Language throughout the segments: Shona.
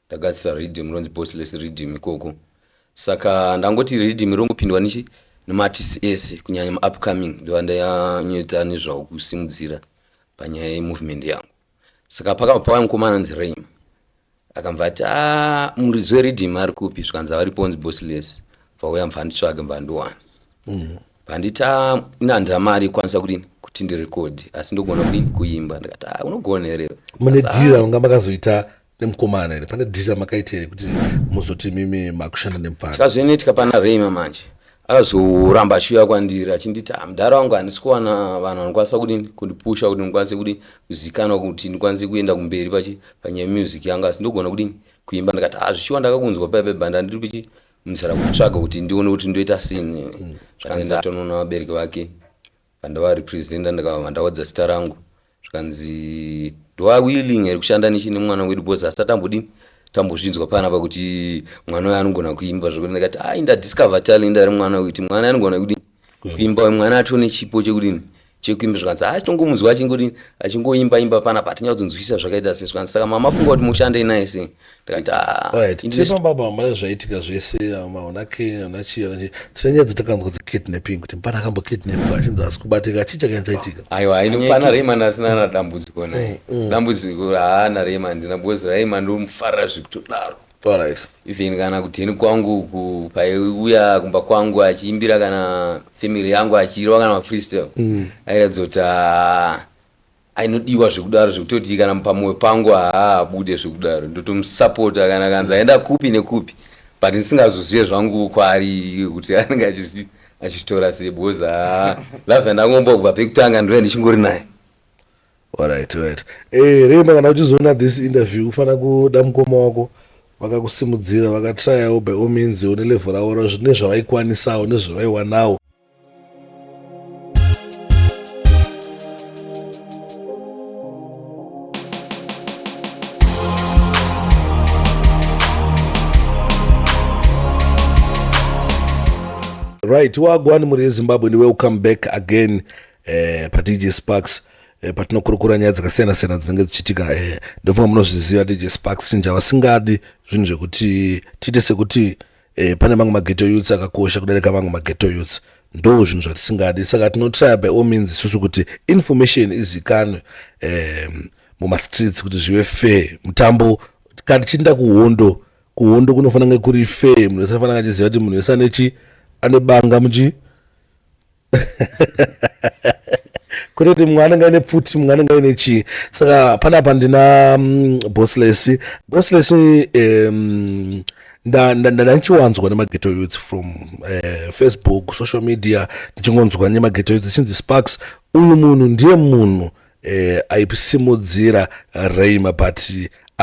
ndagadzisa riddim ronzi bossless riddim ikoko saka ndangoti riddim rongopindwa nichi nematisi ese kunyanya maupcoming ndiva ndanyoita nezvawo kusimudzira panyaya yemovement yangu saka pakabva pava mukomana anzi raim akambva ati ah, muridzi weriddim ari kupi zvikanzi avariponzi bossless vauya mvanditsvage mvandiwana mm. Pandita inandira mari ikwanisa kudini kuti ndirekodhi asi ndogona kudini kuimba ndikati ah, unogona here mune dhira unga makazoita nemukomana here pane dhira makaita here kuti muzoti mimi makushanda nemupfana tikazoinetika pana rema manje akazoramba achiuya kwandiri achinditi ah, mudhara wangu handisi kuwana vanhu vanokwanisa kudini kundipusha kuti ndikwanise kudini kuzikanwa kuti ndikwanise kuenda kumberi panyaya music yangu asi ndogona kudini kuimba ndikati ah, zvichiwa ndakakunzwa paipe banda ndiri pichi ndichada kutsvaga kuti ndione kuti ndoita sini mm. zvakanzi atonoona vabereki vake pandava representa ndikava ndawadza zita rangu zvikanzi ndoa willing here kushanda nechi nemwana wedu bcause asi atambodini tambozvinzwa pana pa kuti mwana uyo anogona kuimba zvekuti ndikati ai ndadiscover talent ari mwana uyu kuti mwana anogona kudini kuimba uyu mwana atone chipo chekudini chekuimba zvikanzi haa tongomunzwa achingoti achingoimba imba pana pa tinyatso kunzwisisa zvakaita sei zvikanzi saka mama funga kuti mushandei naye sei ndikati haa baba mara zvaitika zvese maona ke ana chii ana chii tisenyedzi takanzwa dzi kidnapping kuti mpana akambo kidnapwa achinzi asi kubatika achii chakanga chaitika aiwa haini pana Rayman asina na dambudziko naye mm, mm. dambudziko haana Rayman ndina because Rayman ndomufarira zvekutodaro Alright. Even kana kudheni kwangu uku paiuya kumba kwangu achiimbira kana family yangu achirwa kana mafreestyle mm. airatidza kuti ah, ainodiwa zvekudaro zvekutoti kana pamoyo pangu haabude zvekudaro ndotomusapota kana kanzi aenda kupi nekupi but ndisingazozive zvangu kwaari kuti anenge achizvi achitora sei because ah, love yandangombobva pekutanga ndove ndichingori naye Alright, alright. Eh, Rema kana uchizoona this interview ufana kuda mukoma wako vakakusimudzira vakatrayawo by all means une level ravo ra- zvine zvavaikwanisawo nezvavaiwanawo right wagwani mhuri yezimbabwe ndi welcome back again eh, padj sparks eh, patinokurukura nyaya dzakasiyana siyana dzinenge dzichiitika eh, ndofunga munozviziva dj sparks chinja vasingadi zvinhu zvekuti tiite sekuti eh, pane mamwe mageto youths akakosha kudarika mamwe mageto youths ndo zvinhu zvatisingadi saka tinotraya by all means isusu kuti information izikanwe eh, mumastreets kuti zvive fair mutambo kana tichiinda kuhondo kuhondo kunofanira kunge kuri fair munhu wese anofanira achiziva kuti munhu wese anechi ane banga muchii kutoti mumwe anenge aine pfuti mumwe anenge aine chii saka panapa ndina mm, bossless bossless um, ndandichiwanzwa nemageto youth from uh, facebook social media ndichingonzwa nemageto youth ichinzi sparks uyu munhu ndiye munhu eh, aisimudzira reima but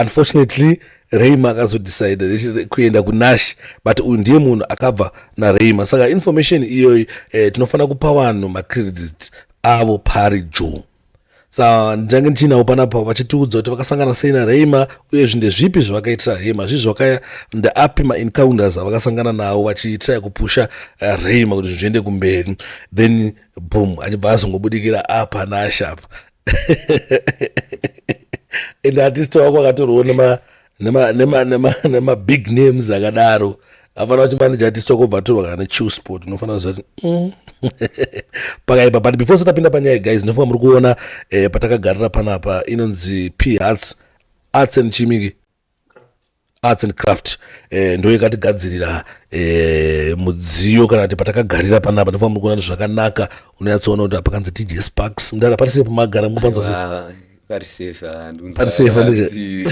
unfortunately reima akazodecide kuenda kunash but uyu ndiye munhu akabva nareima saka information iyoyi eh, tinofanira kupa vanhu macredit avo pari juu sa ndichange ndichiinawo panapa vachitiudza kuti vakasangana sei nareima uye zvinhu ndezvipi zvavakaitira reima zvii zvakaya ndeapi maencounters avakasangana nawo vachiitira kupusha eh, reima kuti zvinhu zviende kumberi then boom achibva azongobudikira apa nasha apa and artist wako akatorwo nemabig names akadaro afanira kuti manaja artist wako bva atorwa kana nechew sport unofanira kuziva kuti mm. pakaipa but before satapinda panyaya guys ndinofunga muri kuona eh, patakagarira panapa inonzi p arts arts and chimiki arts and craft eh, ndo yakatigadzirira eh, mudziyo kana kuti patakagarira panapa ndofa muri kuona kuti zvakanaka unonyatsoona kuti apakanzi dj sparks ndara pari sepo magara mupanzwa se Ah, pari safe ah, ndinonzwa- Pari safe, ah, ndizvo. zi-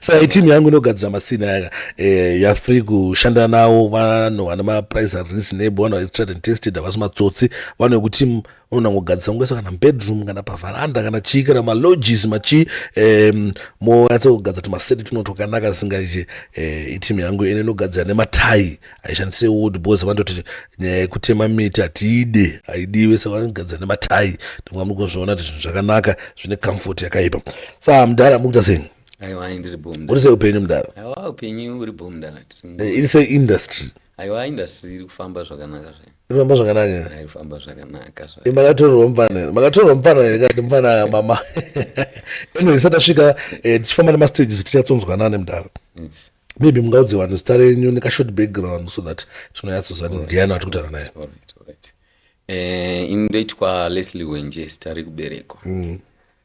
saka timu yangu inogadzira masina yaka eh, yafree kushanda nawo vanhu vana maprice reasonable vanhu vari tried and tested havasi matsotsi vanhu vekuti munhu angogadzisa kungoisa kana mubedroom kana pavaranda kana chii kana malodges machii um, moyatsogadza kuti maseti tuno twakanaka zisingaiche eh, itimu yangu ine inogadzira nematai haishandise wood bcause vandoti nyaya yekutema miti hatiide haidiwe saka vanogadzira nematai ndinga muri kuzviona kuti zvinhu zvakanaka zvine comfort yakaipa saa mudhara mukuita sei aiwa ndiri bo uri sei upenyu mudhara aiwa upenyu uri bo mudhara eh, iri sei industry aiwa industry iri kufamba zvakanaka zvayo inofamba zvakanaka aifamba zvakanaka zva- Eh, makatorerwa mupana makatorerwa mupana here kati mupana mama anyway isati asvika eh, tichifamba nemastages tichinyatsonzwanane mudaro It's- maybe mungaudze vanhu zita renyu nekashort background so that tinonyatsozva kuti ndiani ati kutaura naye alright, alright. Eh, ini ndoitwa leslie wenje zita rekuberekwa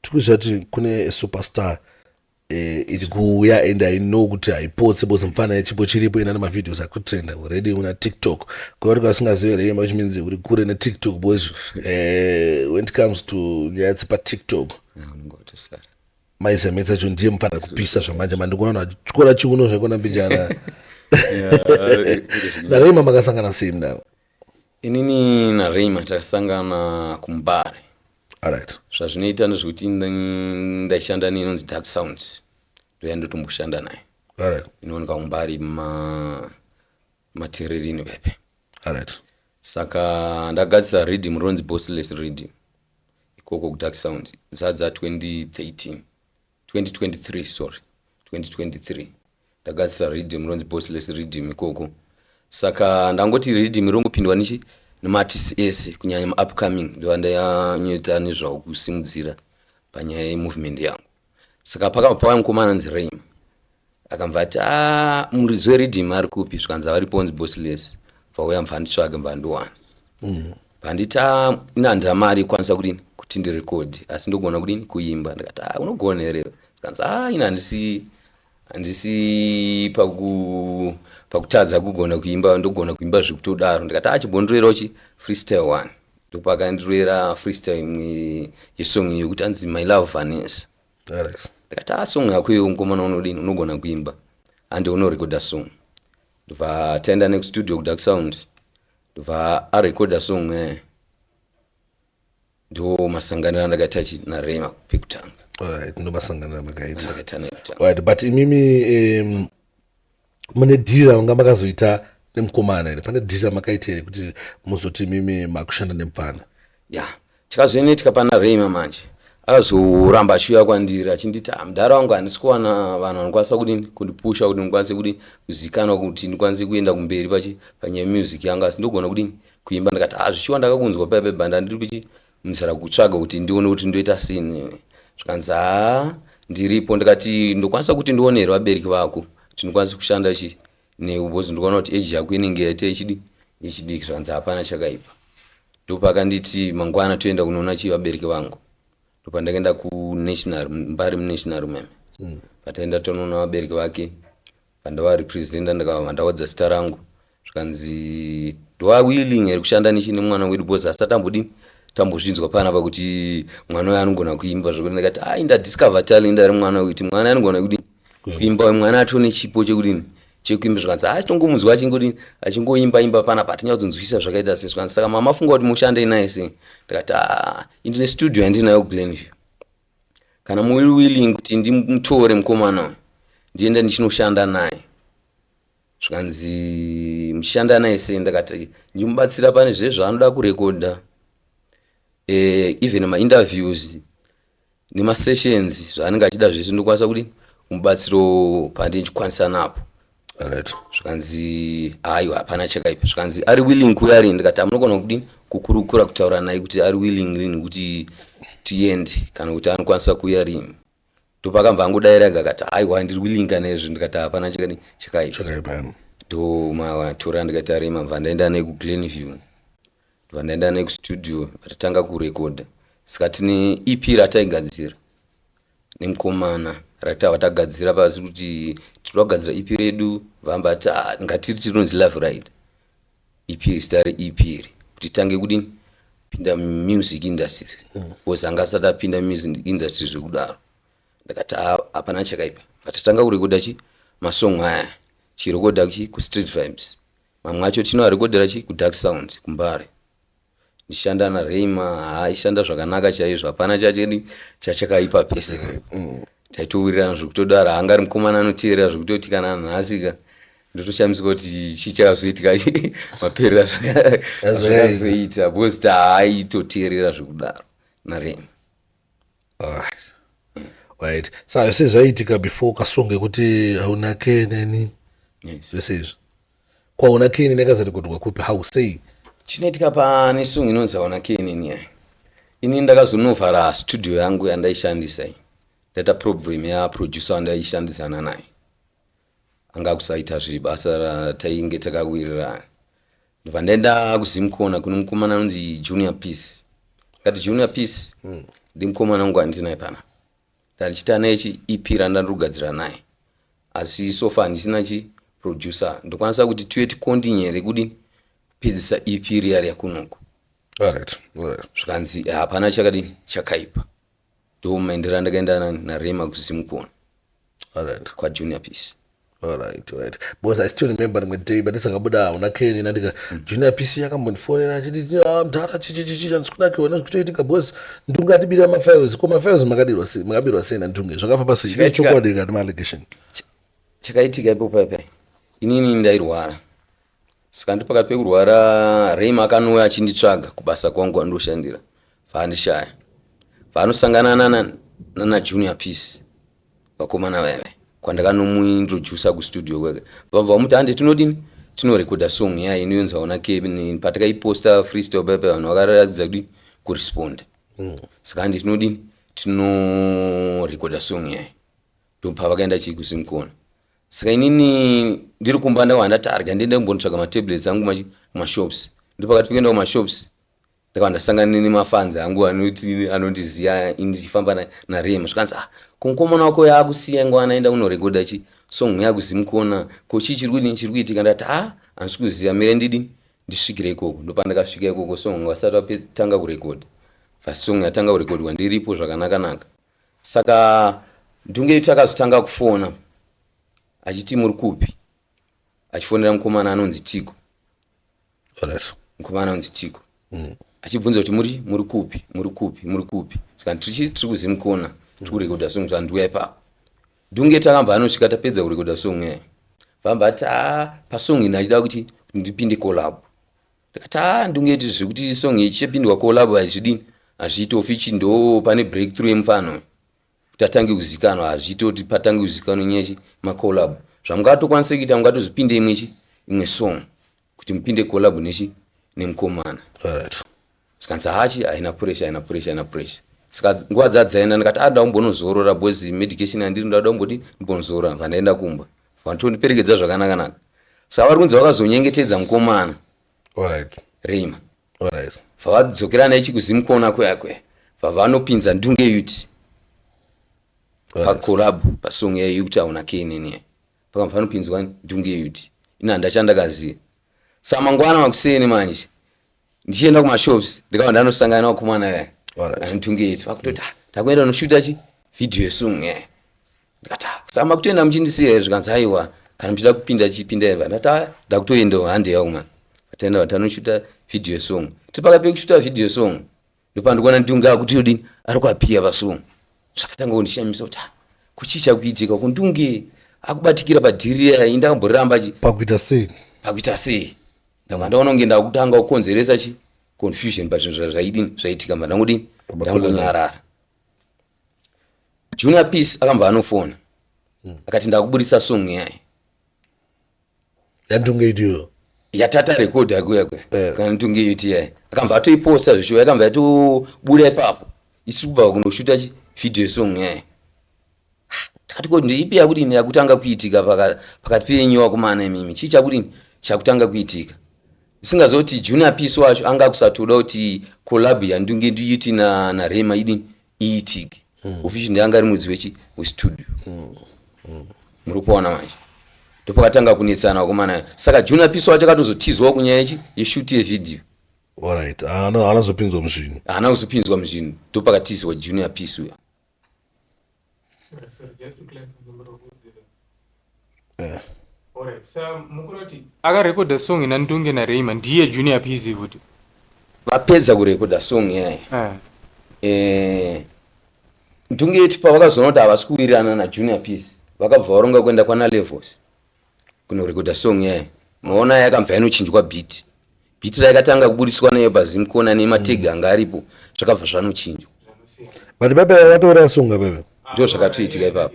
tikuziva kuti kune superstar eh, iri kuuya and i know kuti haipotse bcause mfana yechipo chiripo ina nemavideos akutrenda already una tiktok kuva tika vasingazive rema which means uri kure netiktok bcause eh, when it comes to nyaya dzepatiktok maizemetsa cho ndiye mfana kupisa zvamanje mandikuona achityora chiuno zvekona mbijana narema makasangana sei mdaro inini nareima takasangana kumubare right. zvazvinoita ndezvekuti ndaishanda neinonzi dark sounds ndoya ndotomboshanda naye right. inooneka kumubare ma matererini pepe right. saka ndagadzisa reading ronzi bossless reading ikoko kudark sound dzadza 2013 2023 sorry 2023 ndagadzisa riddim ronzi bossless riddim ikoko saka ndangoti riddim rongopindwa nichi nemaartists ese kunyanya maupcoming ndiva ndayanyota nezvawo kusimudzira panyaya yemovement yangu saka pakabva pava mukomana anzi raim akambva ati ah, muridzi weridhim ari kupi zvikanzi avaripo onzi bosiles vauya mva nditsvage mva ndiwana mm. bhanditi ah, ina handina mari ikwanisa kudini kuti ndirekodhi asi ndogona kudini kuimba ndikati ah, unogona here zvikanzi ah, ina handisi handisi paku pakutadza kugona kuimba ndogona kuimba zvekutodaro ndikati ah, chibondiroirawo chi freestyle one ndopakandiroera freestyle imwe yesong yekuti anzi my love vanesa ndikati asong ah, yako iwe mukomana unodini unogona kuimba ande unorekoda song ndobva ataenda nekustudio kudark sound ndobva arekoda song eh. ndo masanganiro andakaita chi narema pekutanga ndo masanganiro amakaita but imimi um, mune dhiri ravanga makazoita nemukomana here pane dhiri ramakaita here kuti muzoti mimi makushanda nemupfana ya yeah. chikazoinetika pana reima manje akazoramba achiuya kwandiri achinditi ah, mudhara wangu handisi kuwana vanhu vanokwanisa kuti kundipusha kuti ndikwanise kuti kuzikanwa kuti ndikwanise kuenda kumberi panyaya music yangu asi ndogona kuti kuimba ndikati ah, zvichiwa ndakakunzwa paya pebanda ndiri pichi Ndichada kutsvaga kuti ndione kuti ndoita sini zvikanzi haa ndiripo ndikati ndokwanisa kuti ndione here vabereki vako tinokwanisa kushanda chi newe because ndikaona kuti eji yako inenge yaita ichidi ichidiki zvikanzi hapana chakaipa ndopakanditi mangwana toenda kunoona chi vabereki vangu ndopandakaenda kunational mbari munational meme mm. pataenda tonoona vabereki vake Pandava representa ndakava mandawadza zita rangu zvikanzi do I willing here kushanda nishi nemwana wedu because asati ambodini tambozvinzwa pana apa kuti mwana uyo anogona kuimba zvekuti ndikati ai ndadiscover talent ari mwana uyu kuti mwana anogona kudini kuimba uyu mwana atone chipo chekudini chekuimba zvikanzi haa chitongomunzwa achingodi achingoimba imba pana pa tinyakutonzwisisa zvakaita se zvikanzi saka mama funga kuti mushandei naye sei ndikati haa ah, indine studio yandinayo glenview Kana muri willing kuti ndimutore mukomana uyu ndienda ndichinoshanda naye zvikanzi muchishanda naye sei ndakati ndimubatsira pane zvezvaanoda kurekodha eh, even mainterviews nemasessions zvaanenge achida zvese ndokwanisa kuti kumubatsiro pandinchikwanisa napo Alright. zvikanzi aiwa hapana chakaipa zvikanzi ari willing kuuya arini ndikati amunogona kudini kukurukura kutaura naye kuti ari willing rini kuti tiende kana kuti anokwanisa kuuya rini ndopakabva angodaira ega akati aiwa ndiri willing kana izvi ndikati hapana chakadi chakaipa Chakaipa. ndo matora ndikati arima bva ndaenda naye kuglenview ndibva ndaenda naye kustudio vatanga kurekodha saka tine ep rataigadzira nemukomana ratava tagadzira pasi kuti tinoda kugadzira ep redu vamba ti ah, ngatiri tirinonzi love ride ep zita reep iri kuti tange kudini pinda music industry bcause anga asati apinda music industry zvekudaro ndakati "Ah, hapana chakaipa vatatanga kurekodha chi masong aya chirekodha chi kustreet vibes Mamwe acho tino arekodera chi ku Dark Sounds kuMbare. Ndichishanda na Rayma aishanda zvakanaka chaizvo hapana chacheni chachakaipa pese. Mm. Taitowirirana zvekutodaro hanga ari mukomana anoteerera zvekutoti kana nhasi ka ndotoshamisika kuti chii chakazoitika maperera zvakazoita because taaitoteerera zvekudaro na Rayma. Alright. Right. Saka se zvaiitika before ukasonge kuti hauna ke neni yes. zvese izvi kwaona ke neni akazorekodwa kupi how sei chinoitika pane song inonzi hauna ke neni yai ini ndakazonovhara studio yangu yandaishandisa i ndata problem yaproducer wandaishandisana naye anga kusaita zviri basa ratainge takawirirana ndobva ndaenda kuzimkona kune mukomana anonzi junior peace akati junior peace mm. ndi mukomana wangu andinaye pana ndandichita naye chi ep randandirugadzira naye asi sofa handisina chi producer ndokwanisa kuti tiwe tikondinyere kudini pedzisa ep riya riya kunoku zvikanzi hapana chakadini chakaipa ndomaendera ndakaenda narema kusimukoni alright kwajunior peace alright alright because i still remember rimwe day batisakabuda hauna keni nandika mm. junior peace yakambotifonera achiti ah, mdhara chichichichi chandisikunakiwa nezvikutoitika because ndunge atibira mafiles ko mafiles makadirwa sei makabirwa sei nandunge zvakafamba sei chokwadi kana maallegation chakaitika ipo paipai inini ndairwara saka ndi pakati pekurwara rema akanouya achinditsvaga kubasa kwangu andoshandira vaandishaya vanosangana nana, nana junior peace vakomana vaive kwandakanomuintroducer kustudio kwake vabva vamuti hande tinodini tinorekoda song ya inonzwa una kevin patakaiposta freestyle pepe vanhu vakaratidza kudii kuresponda mm. saka hande tinodini tinorekoda song yayi ndopa vakaenda chii kusimkona saka inini ndiri kumba ndawanda targa ndiende kumbonotsvaga matablets angu mashops ndopakati pekuenda kumashops ndakabva ndasangana nemafanzi angu anoti anondiziva ndichifamba narema zvikanzi ah kumukomana wako yaakusiya ngo anaenda kunorekodha chi song yakuzimukona ko chii chiri kudini chiri kuitika ndati ah handisi kuziva mire ndidini ndisvikire ikoko ndopandakasvika ikoko song vasati vatanga kurekodha vasong yatanga kurekodhwa ndiripo zvakanakanaka saka ndunge itu akazotanga kufona achiti muri kupi achifonera mukomana anonzi tiko mukoma anonzi tiko mm. achibvunza kuti muri muri kupi muri kupi muri kupi saka tichi tiri kuzimukona tiri kurekodha song zvanzi uya ipapo dunge takamba anosvika tapedza kurekodha song yayo vamba ati a pasong ini achida kuti ndipinde collab ndikati a ndunge iti zvekuti song ichipindwa collab hazvidini hazviiti ofichi ndo pane breakthrough yemufano kuti atange kuzikanwa hazviite kuti patange kuzikanwa nyechi macolab zvamungatokwanisa kuita mungatozipinde imwe chi imwe song kuti mupinde colab nechi nemukomana right. zvikanzi hachi haina pressure haina pressure haina pressure saka nguva dzadzaenda ndikati a ah, ndakumbonozorora bcause medication yandiri ndada kumboti ndimbonozorora bva ndaenda kumba vantondiperekedza zvakanakanaka saka vari kunzi vakazonyengetedza mukomana right. reima Alright. Vavadzokerana ichi kuzimkona kweyakwe vavanopinza ndunge yuti pakorab pasong yayo yekuti auna knini pakamba panopinzwa ndunge yuti ini handa chandakaziva sa mangwana makuseni manje ndichienda kumashops ndikava ndanosangana nawakomana yaya anditunge yuti vakutoti ah, takuenda unoshuta chi video song yaya ndikati ah, saka makutoenda muchindisiya here zvikanzi aiwa kana muchida kupinda chipindai va ndati aya ndakutoendawo handi yavo mwana vataenda vatanoshuta video song tiri pakati pekushuta video song ndopandikuona ndiungaa kuti odini ari kuapiya vasong zvakatanga kundishamisa kuti ah, kuchii chakuitika kundunge akubatikira padhiri iya inda kamboreramba chi pakuita sei pakuita sei ndanga ndaona kunge ndakutanga kukonzeresa chi confusion pazvinhu zvaidini zvaitika mva ndangodini ndangonyarara junior peace akambva anofona hmm. akati ndakuburitsa song yaye yandungeitiyo yatata record yakuya kuya eh. kana ndungeiti yaye akambva atoiposta zvishuwa yakambva yatobuda ipapo isi kubva kunoshuta video song yaye tikati koti ndeipi yakudini yakutanga kuitika pakati penyu wakumana imimi chii chakudini chakutanga kuitika Usingaziva kuti Junior Peace wacho anga akusatoda kuti collab yandunge ndiiti na na Rema idini iitike. Mm. Official ndiye anga ari mudzi wechi we studio. Mm. Mm. Muri kuona manje. Ndopakatanga kunetsana vakomana. Saka Junior Peace wacho akatozotizwawo kunyaya yechi yeshoot ye video. Alright. Ana anazopinzwa muzvinhu. Ana kuzopinzwa muzvinhu. Ndopakatizwa Junior Peace uya. Eh. akarekodha song ina ndunge nareima ndiye junior pz futi vapedza kurekodha song yaye eh. eh, ndunge yetipa vakazoona kuti havasi kuwirirana najunior pz vakabva varonga kuenda kwana levels kunorekodha song yayo maona yakambva yanochinjwa beat beat rayakatanga kuburitswa nayo pazimkona nemateg mm. anga aripo zvakabva zvanochinjwa but baba vatoora songa baba ndo zvakatoitika ipapo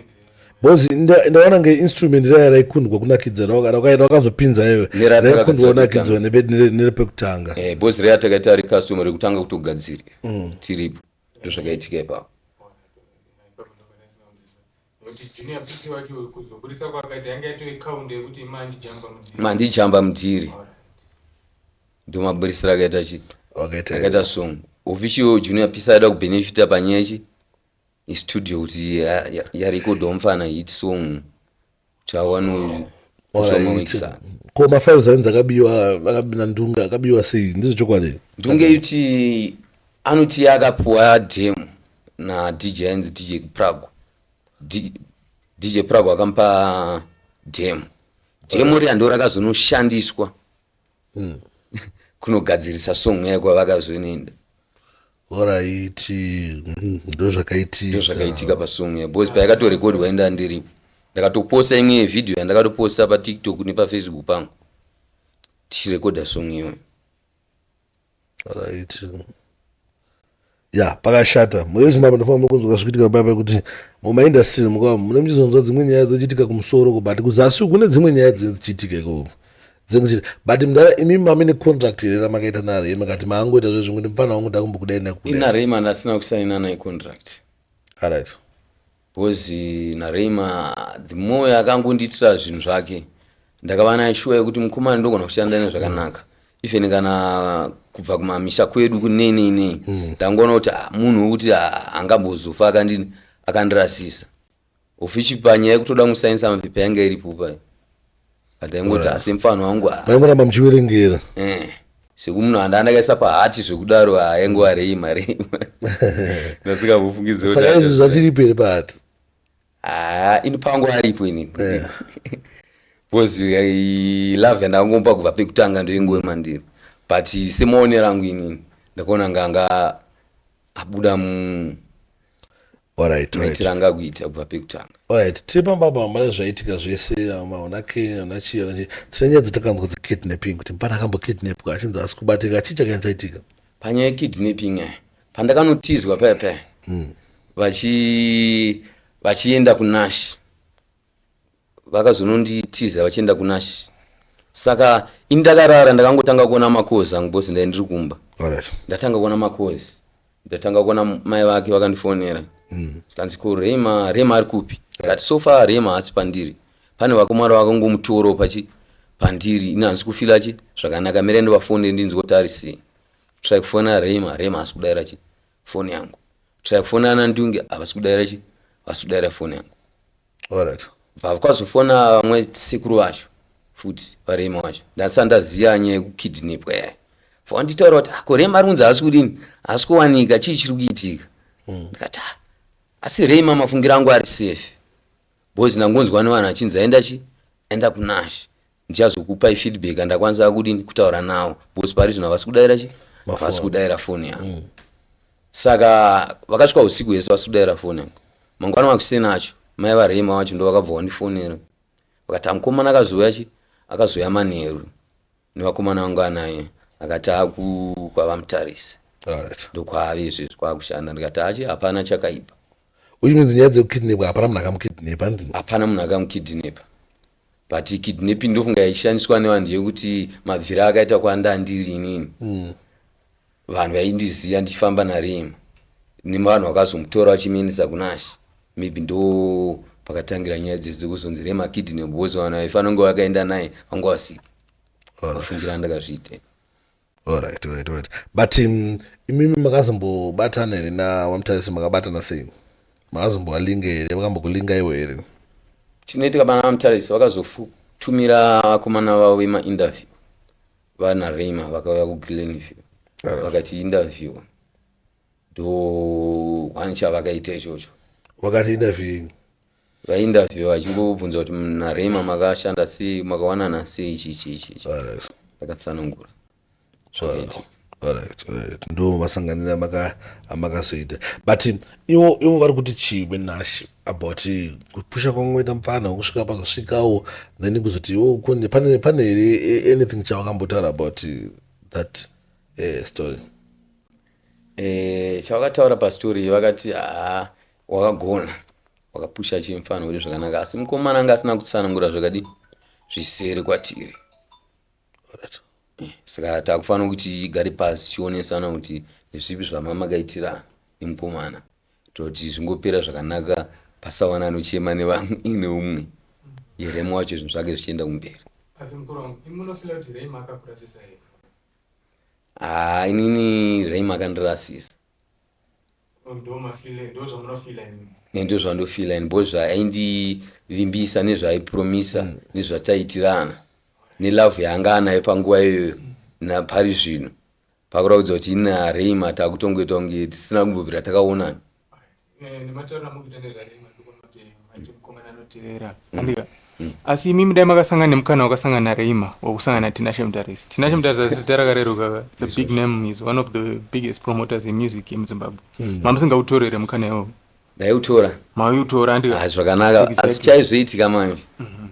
bcause ndaona nge instrument raya raikundwa kunakidza rakazopinza iwe raikundwa kunakidzwa nerepekutanga eh, bcause raya takaita ari customer rekutanga kutogadzira mm. tiripo ndo zvakaitika ipapo Nekuti junior piti wacho kuzoburitsa kwakaita yanga yatove count yekuti mandijamba mudhiri. Mandijamba mudhiri. Ndomaburitsira akaita chi? Wakaita. Akaita song. Official junior pisa ada kubenefita panyaya chi? Istudio kuti yarekodwa mfana hit song. Chawano. Ozomawixa. Ko mafiles ainzi akabiwa akabina ndunga akabiwa sei? Ndizvo chokwadi. Ndunga yuti anoti akapuwa demo. nadj ainzi dj prago dj prago akamupa demo demo riya ndo rakazonoshandiswa hmm. kunogadzirisa song yayo kwavakazonoenda oraiti hmm, ndozvakaitika pasong yayo bcause payakatorekodwa enda ndiripo ndakatoposta imwe yevhidhiyo yandakatoposta patiktok nepafacebook pangu tichirekodha song iyoyo right ya pakashata murezimbabwe ndofamba muri kunzwa zvichiitika paya pekuti mumaindastry mukava mune muchizonzwa dzimwe nyaya dzochiitika kumusoro ko but kuzasi kune dzimwe nyaya dzinenge dzichiitika ikoko dzinenge but mdara imi mame necontract here ramakaita narei makati maangoita zve zvimwe ndimufana wangu ndakumbokudai nakuinarei manda asina kusainana icontract arit Coz naRayma the more akangondiitira zvinhu zvake ndakava naye shuwa yekuti mukomana ndogona kushanda naye zvakanaka even kana kubva kumamisha kwedu kunenei nei hmm. ndangoona kuti ah, munhu wekuti ah, angambozofa akandirasisa ofichi panyaya yekutoda kusainisa mapepa yanga iripo payo ndaingoti asi mfano wangu aingoramba muchiverengera eh, sekumunhu anda andakaisa pahati zvekudaro aingo arei mari ndasingambofungidzisaka izvi zvachiripo here pahati haa ini pangu aripo ini eh. because eh, love yandakangomupa kubva pekutanga ndoingove mandiri but semaonero angu inini ndakaona nganga abuda mu Alright, maitiro anga akuita kubva pekutanga alright tiri pamba apa hamuna zvaitika zvese maona ke ana chii ana chii tine nyaya dzatakanzwa dzekidnapping kuti mupana akambokidnapwa achinzi asi kubatika chii chakanya chaitika panyaya yekidnapping aya pandakanotizwa paya paya hmm. vachienda kunash vakazononditiza vachienda kunash saka ini ndakarara ndakangotanga kuona makozi angu bos ndai ndiri kumba ndatanga kuona makozi ndatanga kuona mai vake vakandifonera mm. kanzi ko rema rema ari kupi kati so far rema haasi pandiri pane vakomwari vakangomutoro pachi pandiri ini handisi kufila chi zvakanaka mira ndovafonere ndinzwa kuti ari sei try kufona rema rema haasi kudaira chi foni yangu try kufona ana ndunge havasi kudaira chi vasi kudaira foni yangu alright vakazofona vamwe sekuru vacho futi varema vacho ndasati ndaziva nyaya yekukidnipwa yaya vanditaura kuti ako ah, rema ari kunzi haasi kudini haasi kuwanika chii chiri kuitika hmm. ndikati ah, asi rema mafungiro angu ari safe bcause ndangonzwa nevanhu achinzi aenda chi aenda kunash ndichazokupai feedback andakwanisa kudini kutaura nawo because pari zvino havasi kudaira chi havasi kudaira foni yangu mm. saka vakasvika usiku hese vasi kudaira foni yangu mangwana wakusena acho mai varema wacho ndo vakabva wandifonera vakati amukomana akazouya chi akazouya manheru nevakomana vangu anaye akati akukwavamutarisi ndokwaave izvezvi kwakushanda ndikati achi hapana chakaipa uyu minzi nyaya dzekukidnepa hapana munhu akamukidnepa hapana munhu akamukidnepa but kidnapping ndofunga yaishandiswa nevanhu yekuti mabviri akaita kwanda ndiri inini mm. vanhu vaindiziva ndichifamba narema nevanhu vakazomutora vachimuendesa kunash maybe ndo pakatangira nyaya dzese kuzonzi rema kidnap bcause vanhu vaifanira kunge vakaenda naye vanga vasipo vafungira ndakazviitei Alright, alright, alright. But um, imimi makazombobatana here naVaMutarisi makabatana sei? Makazombovalinga here? Vakambokulinga iwe here? Chinoitika pana VaMutarisi vakazotumira vakomana vavo vemainterview vana Rayma vakauya kuGlenview Alright. vakati interview ndo one chavakaita ichocho Wakati interview vainterviewer vachingobvunza kuti "Mm, narema makashanda sei makawanana sei ichi ichi ichi ichi Alright. ndakatsanangura Alright, alright, alright. ndo masanganira amaka- amakazoita but um, ivo ivo vari kuti chii venashe about eh, kupusha kwamakaita mupfana kusvika pakasvikawo then kuzoti ivo kune pane pane here eh, anything chavakambotaura about eh, that eh, story Eh, chavakataura pastory vakati haa wakagona wakapusha chimfana uri zvakanaka asi mukomana anga asina kutsanangura zvakadi zvisere kwatiri right. Eh, saka takufanira kuti igare pasi chionesana kuti nezvipi zvamama kaitirana nemukomana toti zvingopera zvakanaka pasawana anochema nevamwe ine umwe yeremu wacho zvinhu zvake zvichienda kumberi haa ah, inini reim akandirasisa ne ndozvandofila ini bho zvaindivimbisa nezvaaipromisa mm. nezvataitirana nelove yaanga anayo panguva iyoyo napari zvino pakuraudza kuti ini nareima takutongoita kunge tisina kumbobvira takaonana eh, asi imi mudai makasangana nemukana wakasangana nareima wakusangana natinashe mutarisi tinashe mutarisi asi zita rakareruka it's a big name is one of the biggest promoters in music yemuzimbabwe mm. mamusingautorere mukana iwowo ndaiutora mauiutora andika ah, zvakanaka asi chaizoitika manje mhm.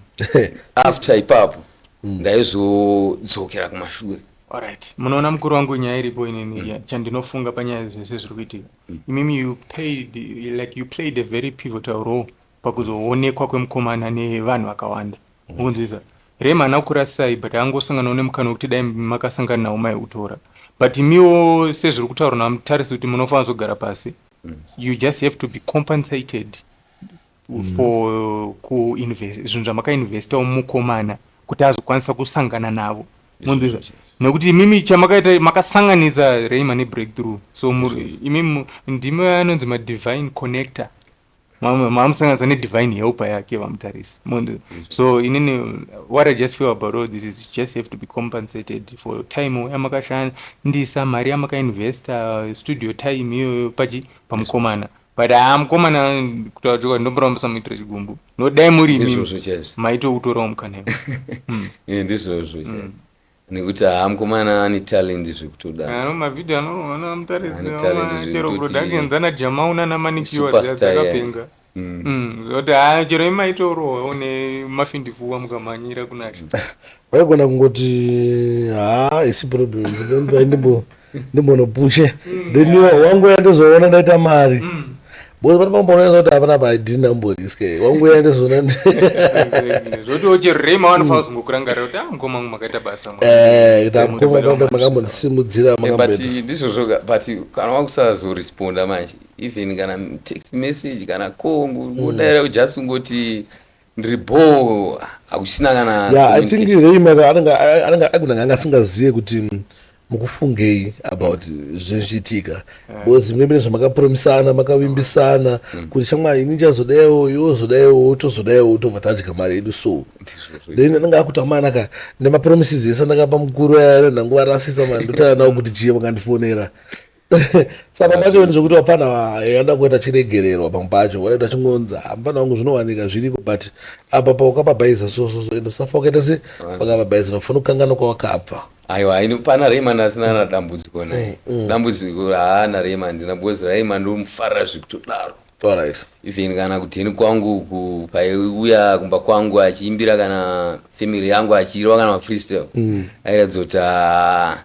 after ipapo mm. ndaizodzokera kumashure alright munoona mukuru wangu nyaya iripo inini mm. chandinofunga panyaya zvese zviri kuitika imimi you played, like you played a very pivotal role pakuzoonekwa kwemukomana nevanhu vakawanda mukunzwisa mm. rema ana kurasai but angosanganawo nemukana wekuti dai makasangana nawo maiutora but imiwo sezviri kutaurwa namutarisi kuti munofanira kuzogara pasi mm. you just have to be compensated for kuinvest zvinhu zvamakainvesta mukomana kuti azokwanisa kusangana navo mondizva nekuti imimi chamakaita makasanganisa reima nebreakthrough so imimi ndimi anonzi madivine connector maamusanganisa nedivine helper yake vamutarisi mondizva so inini what i just feel about all this is just have to be compensated for time yamakashandisa mari yamakainvesta studio time iyoyo pachi pamukomana yes. but haa ah, mukomana kutaura chokwadi ndomborawo musamuitira chigumbu no dai muri imizvozvo chaizvo maitokutorawo mukana hmm. eh, ndizvozvo chaizvo hmm. nekuti haa ah, mukomana ane talent zvekutoda ano mavhidhio anoona mutarisachero productions ana jamau nana manikiwa dzakapenga hmm. zvokuti haa ah, chero imaitorowo ne mafindifuwa mukamhanyira kunasha waigona kungoti haa isi problem ndimbo ndimbonopushe then iwe wanguya ndozoona ndaita mari because pane pambonoona kuti hapana paidi ndamboriske wanguya ndozoona Exactly. zvoti uchirima wanofanira kuzongokurangarira kuti ah mukoma wangu makaita basa mwana." Eh, kuti amukoma Simudzira kwamba manje, makambondisimudzira Eh, but makambondiita. ndizvo zvoga but kana wakusazoresponda manje even kana text message kana call ngodaira just ungoti ndiri bhoo hausina kana yeah, i think reima anenge agona anga asingazive kuti mm, mukufungei about zvezviitika because imwe mine zvamakapromisana makavimbisana mm. kuti shamwari ini chazodaiwo iwo zodaiwo tozodaiwo utobva tadya mari yedu so then anenge akutamanaka nemapromises ese ndakapa mukuru ayananguva rasisa mandotanawo kuti chii vakandifonera saka machoni zvekuti vapfana vanoda kuita chiregererwa pamwe pacho wanoita chingonzi hamufana ah, wangu zvinowanika zviriko but apa paukapabhaiza sososo ende usafa ukaita se pakapabhaiza unofana kukangana kwawakabva aiwa ini pana rayman asina na dambudziko naye mm, mm. dambudziko haana rayman ndina because rayman ndomufarira zvekutodaro even kana kuteni kwangu uku paiuya kumba kwangu achiimbira kana family yangu achiirwa kana mafreestyle mm. airatidza kuti ah,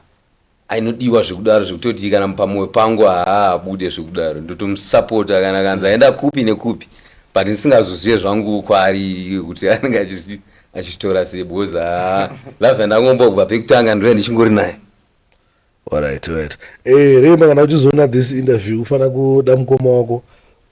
ainodiwa zvekudaro zvekutoti kana pamoyo pangu haabude zvekudaro ndotomusapota kana kanzi aenda kupi nekupi but ndisingazozive zvangu kwaari kuti anenge achitora sei because haa love yandangomba kubva pekutanga ndove ndichingori naye alright right eh remba kana uchizoona this interview ufanira kuda mukoma wako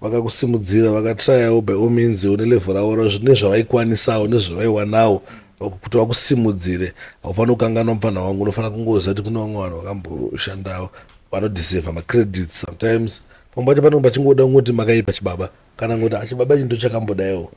vakakusimudzira vakatrayawo by all means une level ravo ra zvine zvavaikwanisawo nezvavaiwanawo kuti vakusimudzire haufanira kukanganwa mupfanha wangu unofanira kungoziva kuti kune vamwe vanhu vakamboshandawo vanodeserva macredits sometimes pamwe pacho panenge pachingoda kungoti makaipa chibaba kana kuti achibaba ah, chinto chakambodaiwo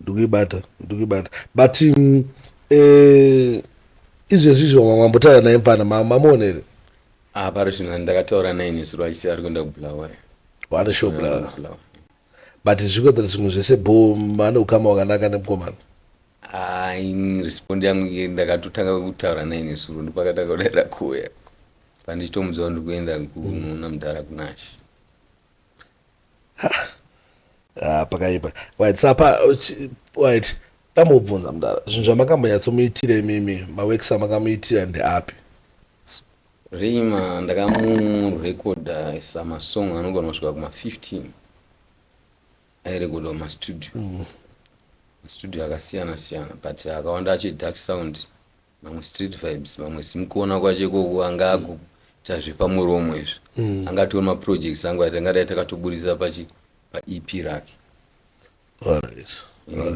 ndikuibata ndikuibata but mm, eh, izvezvi izvo mamwe mambotaura naye mfana ma- mamuona here Ah, pari zvino ndakataura naye nesu rwaise ari kuenda kubulawayo wane show bla but zvikwetera zvimwe zvese bho vane ukama wakanaka nemukomana Ah, ini respond yangu iye ndakatotanga kutaura naye nesuro ndopakatanga kudaira kuuya pandichitomudzawo ndiri kuenda kunoona mudhara kunashi Ah, pakaipa right sapa right ndambobvunza mudara zvinhu zvamakamboyatsomuitira imimi mawekisa makamuitira ndeapi rima ndakamurekodha isa masong anogona kusvika kuma-15 airekodha mastudio mm. mastudio akasiyana siyana but akawanda acho dark sound vamwe street vibes vamwe simukuona kwacho ikoko anga akuita zvepamuromo izvi mm. anga atori maprojects angu atangadai takatoburitsa pachi paep rake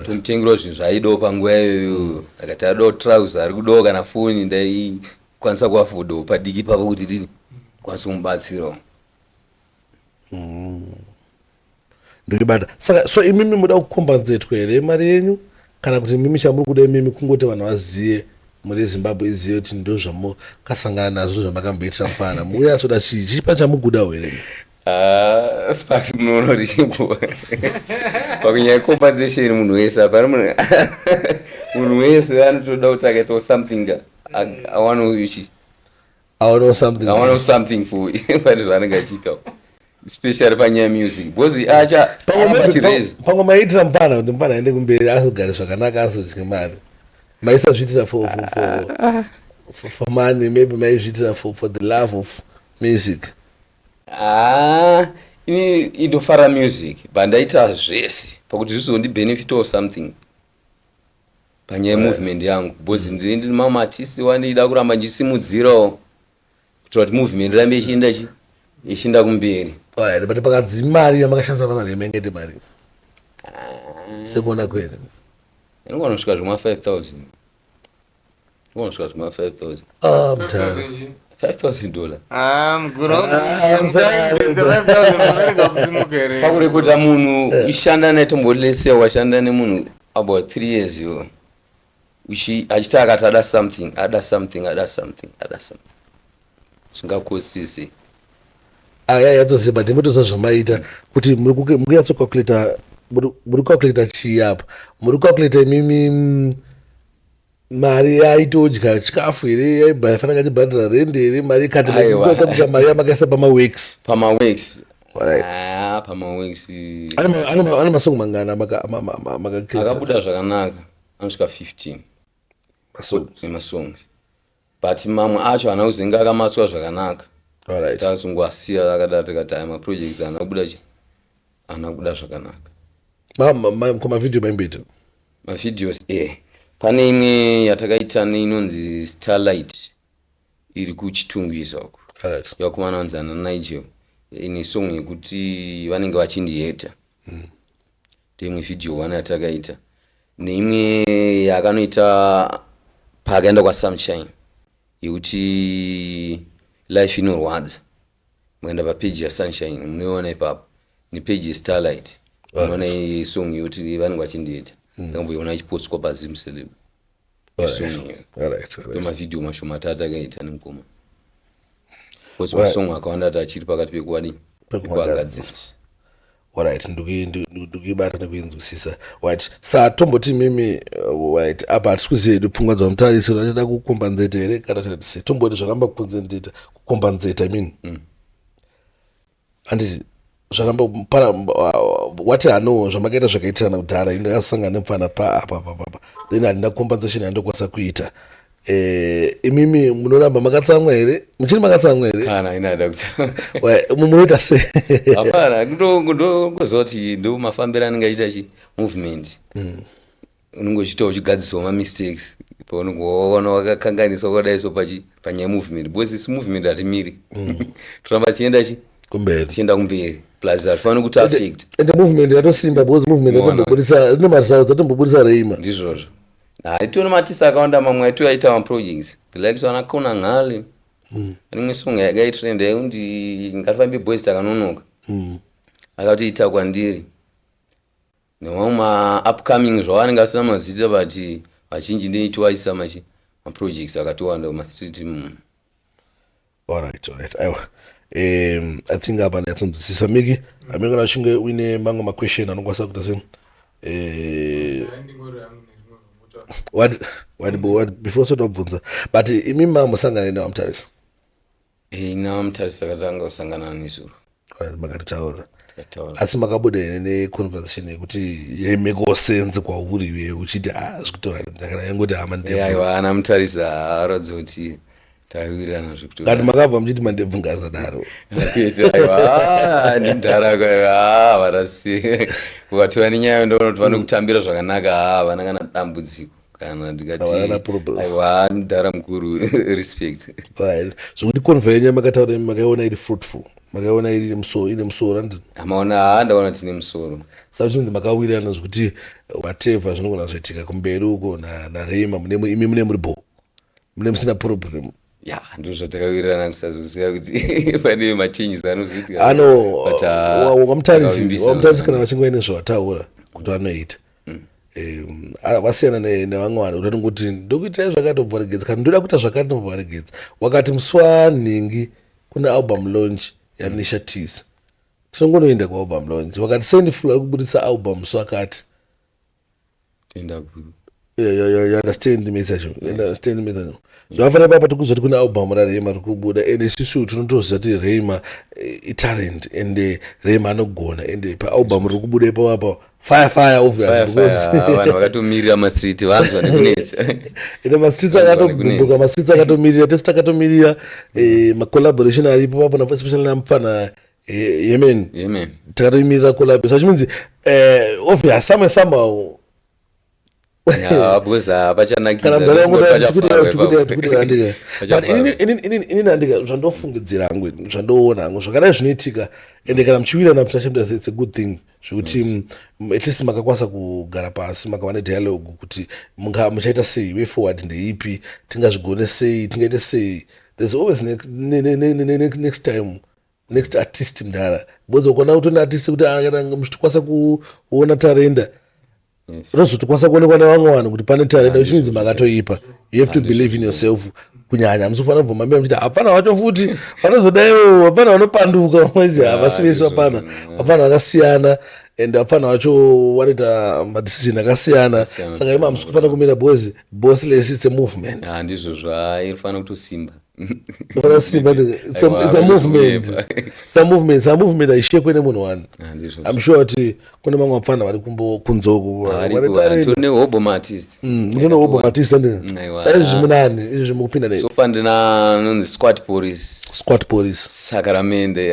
tomutengerawo zvinhu zvaaidawo panguva iyoyo akati adawo trouser ari kudawo kana foni ndaikwanisa kuafodawo padiki pavo kuti ndini kwanisa kumubatsirawo mm. ndokibata saka so imimi muda kukombanzetwa here mari yenyu kana kuti mimi chamuri kuda imimi kungoti vanhu vazive muri zimbabwe izive kuti ndo zvamokasangana nazvo zvamakamboitisa mfana muuya asoda chii chii pane chamukuda here ah, sparks munoona kuti chikuwa pakunyaya compensation munhu wese apana munhu wese anotoda kuti akaitawo something awanochi aonawo something aonawo something for vari zvaanenge achiitawo especially panyaya music because acha achireza pamwe maiitira mupana kuti mupana aende kumberi azogare zvakanaka azodye mari maisazviitira for for for ah, ah. for, for money maybe maizviitira for for the love of music ah ini indofara music but ndaita zvese pakuti zvizondibhenefitawo something panyaya yemovement yangu because ndine ndine mamwe artist wandida kuramba ndichisimudzirawo kuitira kuti movement rambe ichienda chi ichienda kumberi Alright, but pakadzi mari yamakashandisa pana remengete mari sekuona kwene inogona kusvika zvima 5000 unosvika zvima 5000 ah mtara 5000 dollar ah mguru ah, pakurekodha munhu eh. ishanda naye tombolese washanda nemunhu about 3 years yo achita akati ada something ada something ada something ada something zvingakosise aya ah, yatose but imotosa zvamaita kuti muri kuyatsocalculator muri kucalculator chii apa muri kucalculator imimi mm, mari yaitodya chikafu here yaifanira katibhadhara rendi here mari ikatiakuta mari yamakaisa pamawex pamawex ah, pamawex ane masongo mangani amakaakabuda zvakanaka anosvika 15 masongs but mamwe acho haana kuzenge akamaswa zvakanaka Alright. takazongoasiya akadaro tikati aya maprojects haana kubuda chi haana kubuda zvakanaka Ma- ma- ma- ko mavhidhiyo maimboita mavideos e pane imwe yatakaita neinonzi starlight iri kuchitungwiza uko Alright. yakumana anzi ana nigel ine song yekuti vanenge vachindiheta ndeimwe video one yatakaita neimwe yakanoita paakaenda kwasunshine yekuti life inorwadza mukaenda papeji yasunshine munoiona ipapo nepeji yestarlight unoona song yekuti vanenge vachindiita ndakamboiona ichipostwa pazimceleb ndomavhidhiyo mashoma ati atakaita nemukoma bcause masong akawanda ati achiri pakati pekuwadi pekuagadzirisa orit ndikuibata nekuinzwisisa rit sa tomboti mimi uh, rit apa hatisi kuziva hedu pfungwa dzamutarisi vachida kukombanzeta here kana kati se tomboti zvaramba kukonzendeta kukombanzeta min mm. handiti zvaramba para wati hano zvamakaita zvakaitirana kudhara ini ndakasangana nemfana paapapapapa then handina compensation yandokwanisa kuita eh, imimi munoramba makatsamwa here muchiri makatsamwa here kana ini haida kutsamwa munoita se hapana ndongoziva kuti ndo mafambiro anenge aita chi movement mm. unenge uchiita uchigadziswa mamistakes paunenge waona wakakanganiswa kwadai so panyaya yemovement because isu movement hatimiri mm. toramba tichienda chi kumberi tichienda kumberi plus hatifaniri kuti affect ende movement yatosimba because movement yatombobudisa rine maresults atombobudisa reima ndizvozvo haitiona matisa akawanda mamwe aito aita maprojects like so anakona nghali mm. rimwe song yakaitrend yaikuti ngatifambe boys takanonoka mm. akatoita kwandiri nemamwe maupcoming zvavanenge vasina mazita but vazhinji ndinitiwaisa machi maprojects akatowanda mastreet mm. alright alright aiwa um, i think apa ndayatsonzwisisa miki amenge na uchinge uine mamwe maquestion anokwanisa kuita se eh, before sotobvunza but imi mamusangane nevamutarisa Ina mutarisi takatanga kusangana nezuro. Makataura. Takataura. Asi makabuda here neconversation yekuti yemikosenzi kwauri iwe uchiti ah zvikutora ndakana yangoti hama ndebvu. Aiwa ana mutarisi haaratidzi kuti taiwirirana zvekutora. Kana makabva muchiti mandebvu ngasadaro. Aiwa ndindara kwaiwa ah varasi. Ukatora nenyaya ndoona kuti vanokutambira zvakanaka ah vana kana dambudziko. kana ndikatiaiwa mdhara mukuru respect zvokuti conve yenyu yamakataura makaiona iri fruitful makaiona iri musoro ine musoro andi amaona haa ndaona tine musoro saka zvinonzi makawirirana zvokuti whatever zvinogona zvoitika kumberi uko nareima imi mune muri bho mune musina problem ya ndizvo zvatakawirirana kusazoziva kuti pane machanges anozoitika anovamutarisiri uh, kana vachinge vaine zvavataura kuti vanoita vasiyana nevamwe vanhu kuti anongoti ndokuitai zvakatoboregedza kana ndoda kuita zvakatoboregedza wakati musi wanhingi kune album launch yanisha tisa tinongonoenda kualbum launch wakati sendiful ari kuburitsa album musi wakati tenda guru Yeah, yeah, yeah, you understand me sacho you understand me sacho zvakafanira papa tikuzoti kune album rarema riri kubuda and isusu tinotoziva kuti rema eh, italent and eh, rema anogona and eh, paalbum riri kubuda ipapo apa fire fire obvious Fire, fire. because Ah, vanhu vakatomirira mastreet vanzwa nekunetsa ine mastreets Vanhu vane kunetsa. akatobumbuka mastreets akatomirira tese takatomirira eh, macollaboration aripo papo napo especially namupfana yemen yemen takatoimirira kulapi so chimeans eh, obvious some somehow inini andika zvandofungidzira hangu zvandoona hangu zvakadai zvinoitika ende kana muchiwirana psachemdasitse good thing zvekuti yes. Mm, at least makakwanisa kugara pasi makava nedialogue kuti muchaita sei way forward ndeipi tingazvigone sei tingaite sei there's always next, ne, ne, ne, ne, next time next artist mdara because ukaona kuti artist kuti muchitikwanisa kuona tarenda rozotikwanisa kuonekwa nevamwe vanhu kuti pane tarenda which means makatoipa you have to believe in yourself kunyanya musofanira kubvuma mbira muchiti hapana wacho futi vanozodaiwo hapana vanopanduka vamwezi havasi vese vapana vapana vakasiyana and hapana wacho vanoita madecision akasiyana saka ima hamusi kufanira kumira boys boss lesi it's a movement handizvo zvairifanira kutosimba movement haishekwe nemunhu wani ah, im sure kuti kune mamwe vapfana vari kunzokunehobomatist mm, saizvi munani izvi zvimukupinda nesofandiranonzisquat police squat police sakaramende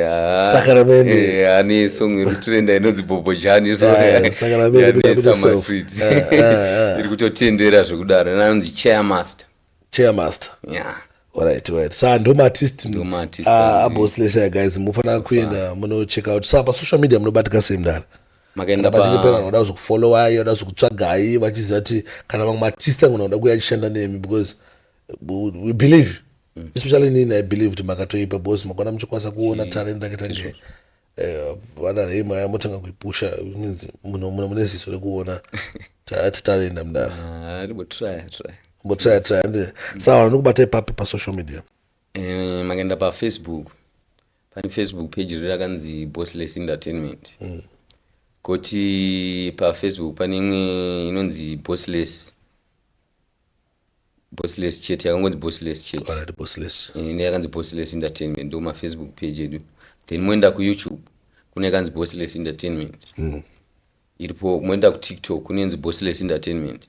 sakaramende eh, ane song irikutrenda inonzi bobojani isoyanetsa maswit iri kutotendera zvekudaro inanonzi chairmaster chairmaster yeah. Alright, alright. Sa ndo artist ndo artist. Ah, abo slesa guys mufanira kuenda muno check out. Sa pa social media munobatika sei mdara? Makaenda pa pachipera vanoda kuzokufollow ayi, vanoda kuzokutsvaga ayi, vachiziva kuti kana vamwe artist vangu vanoda kuya chishanda nemi because we believe mm. especially nini I believe kuti makatoipa because makona muchikwanisa kuona talent rakita nje. Eh, vana rei maya motanga kuipusha means muno muno mune ziso rekuona tati tarenda mdara Ah, ribotraya traya mbotsaya tsaya ndi sawa ndokubata ipapi pasocial media Eh, makaenda pafacebook pane facebook page riri rakanzi bossless entertainment koti pafacebook pane imwe inonzi bossless bossless chete yakangonzi bossless chete Alright, bossless. Eh, ine yakanzi bossless entertainment ndo mafacebook page edu then moenda kuyoutube kune yakanzi bossless entertainment Mm. iripo moenda kutiktok kunenzi bossless entertainment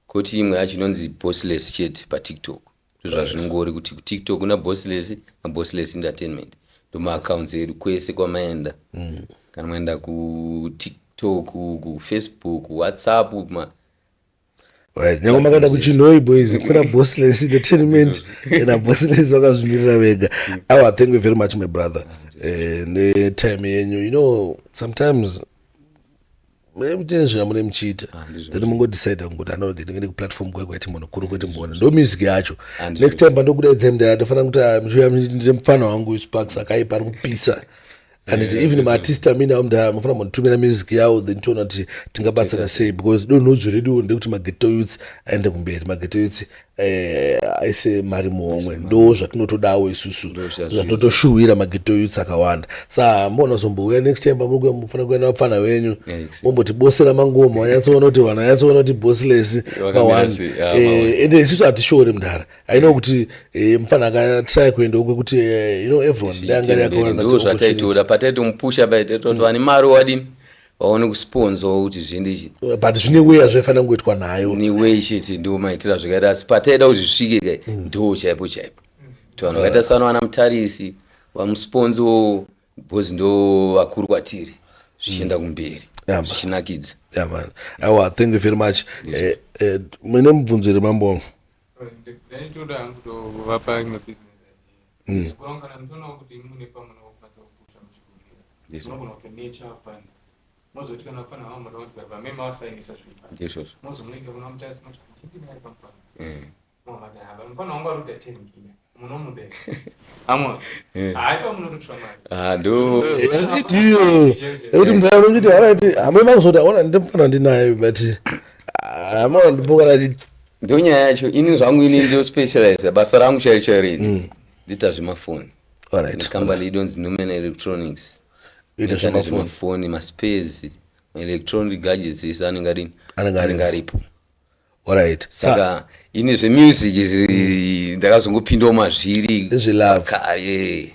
koti imwe yacho inonzi bossless chete patiktok ndozvazvinongori kuti kutiktok kuna bossless nabossless entertainment ndomaacounts edu kwese kwamaenda Mm. kana maenda kutiktok kufacebook whatsapp ma Right. Nyangwe makaenda kuchinhoi boys kuna bossless entertainment kana bossless vakazvimirira vega aw i thank you very much my brother eh, netime yenyu you know sometimes mune zvamune muchiita ah, then mungodecide kungoda anoge ndinge ndi kuplatform kwai kwaiti munhu kuri kwete mboona ndo music yacho next time pandokudaidzai mndaa ndofanira kuti ah, muchiuya ndine mupfana wangu sparks akaipa ari kupisa and yeah, even maartist amene amda mafana mutumira music yawo then tiona kuti tingabatsana sei because donho dzvo redu ndekuti mageto youths aende kumberi mageto youths eh, aise mari muhomwe ndo zvatinotodawo isusu zvatotoshuwira mageto youths akawanda sa mona zombouya next time pamukuya mufana kuenda vapfana venyu momboti bosi ramangoma wanyatsoona kuti vana yatsoona kuti bosilesi mawani ah, eh, ende isusu hatishore mdhara i know kuti eh, mfana akatraya kuenda uko kuti eh, you know everyone ndangareakaonando zvataitora pataitomupusha paitaitoti vane mari wadini vaone kusponzwa kuti zvindi ichi but zvine weya zvaifanira kungoitwa nayo neway chete ndo maitira zvakaita asi pataida kuti zvisvike kai mm. ndo chaipo chaipo to vanhu vakaita sano vana mutarisi vamusponzo bcoz ndo vakuru kwatiri zvichienda mm. kumberi zvichinakidza awa thank you very much eh, eh, mune mubvunzo here mambo wangu ndaitoda hangu tovapa imwe business idea zvikuru mm. kana muchionawo kuti imi mune pamwe nokukwanisa kupusha muchikumbira munogona kuti nature fund mozoti kana kufana havo moda kuti vamai mavasainisa zvinhu mozomunenge kuna mutasi moti chindinaye pamufana mavati hava mufana wangu ari kuita ten kina ekuti mdara kuti haraiti hamwe makuzoda ona ndimfana ndinaye but hamwa ndipokana ndo nyaya yacho ini zvangu ini ndo specialize basa rangu chairo chairo ini mm. ndiita zvemafoni nekambani idonzi numen electronics ita zvemafoni maspes maelectronic gadgets ese anenge adini anenge aripo Alright. Saka ini zvemusic izvi ndakazongopindawo mazviri Zvelove. kare.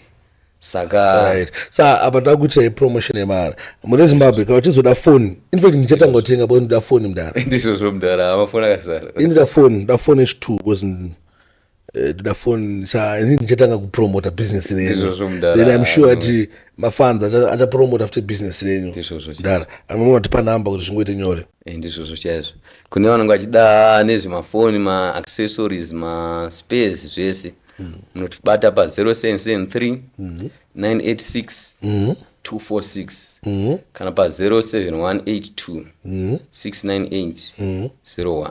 Saka Alright. Sa apa takuitira ipromotion yemara. Mune Zimbabwe kana uchizoda phone. In fact ndichatanga kutenga bo ndoda phone mdara. ndizvozvo mdara amafoni akazara. Ini ndoda phone, ndoda phone H2 because Eh, ndoda phone sa ini ndichatanga kupromota business renyu Ndizvozvo mudhara. then i'm sure ati mafans acha- achapromota futi business renyu Ndizvozvo chaizvo. mdara amwe matipa namba kuti zvingoite nyore Eh, ndizvozvo chaizvo kune vanenge vachida nezvemafoni maaccessories maspares zvese munotibata pa 0773 986 246 kana pa 07182 698 01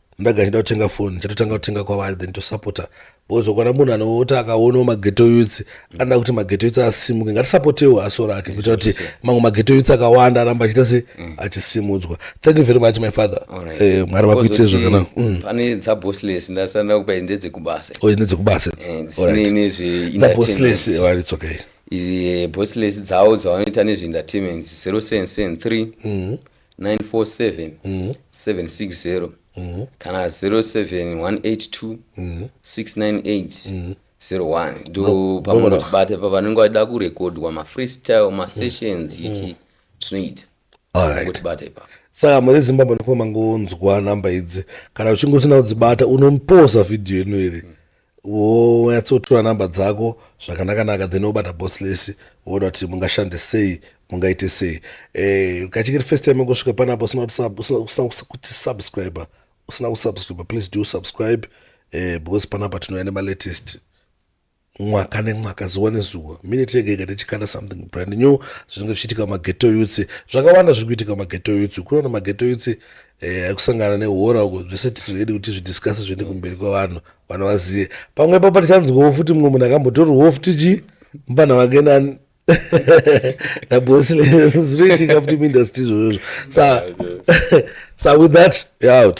ndaga chida kutenga foni chatotanga kutenga kwavari then tosapota because ukwana munhu anoota akaonawo mageto youths anoda kuti mageto youths asimuke ngatisapotewo asora ake kuita kuti mamwe mageto youths akawanda aramba achiita se mm. achisimudzwa thank you very much my father eh, mwari vakuitire zvakanaka mm. pane dzabosless ndasana kupa ndedzekubasa oh, ndedzekubasa eh, dzabosless eh, it's okay bosless dzavo dzavanoita nezveentertainment 0 sense 3 947 760 kana 07182 698 01 ndo pamunotibata pa vanenge vachida kurekodwa mafreestyle masessions ichi tinoita Alright. kutibata ipapo saka muri zimbabwe ndiko mangonzwa namba idzi kana uchinge usina kudzibata unomposa vhidhiyo ino iri wonyatsotura number dzako zvakanakanaka then wobata boss lesi woona kuti mungashande sei mungaite sei eh, kachingiri first time ingosvika panapo usina kuti subscriber usina kusubscriber please do subscribe eh, because panapa tinouya nemalatest mwaka nemwaka zuva nezuva minute yega yega tichikanda something brand new zvinenge zvichiitika mageto yutsi zvakawanda zviri kuitika mageto yutsi kunoona mageto yutsi Eh, kusangana nehora uko zvese titiredi kuti zvidiscase zviende kumberi kwavanhu vanhu vazive pamwe ipapo tichanzwawo futi mumwe munhu akambotorwawo futi chi mupana wake nani naboslezoitika futi muindustry izvozvozvo sa sa with that we're out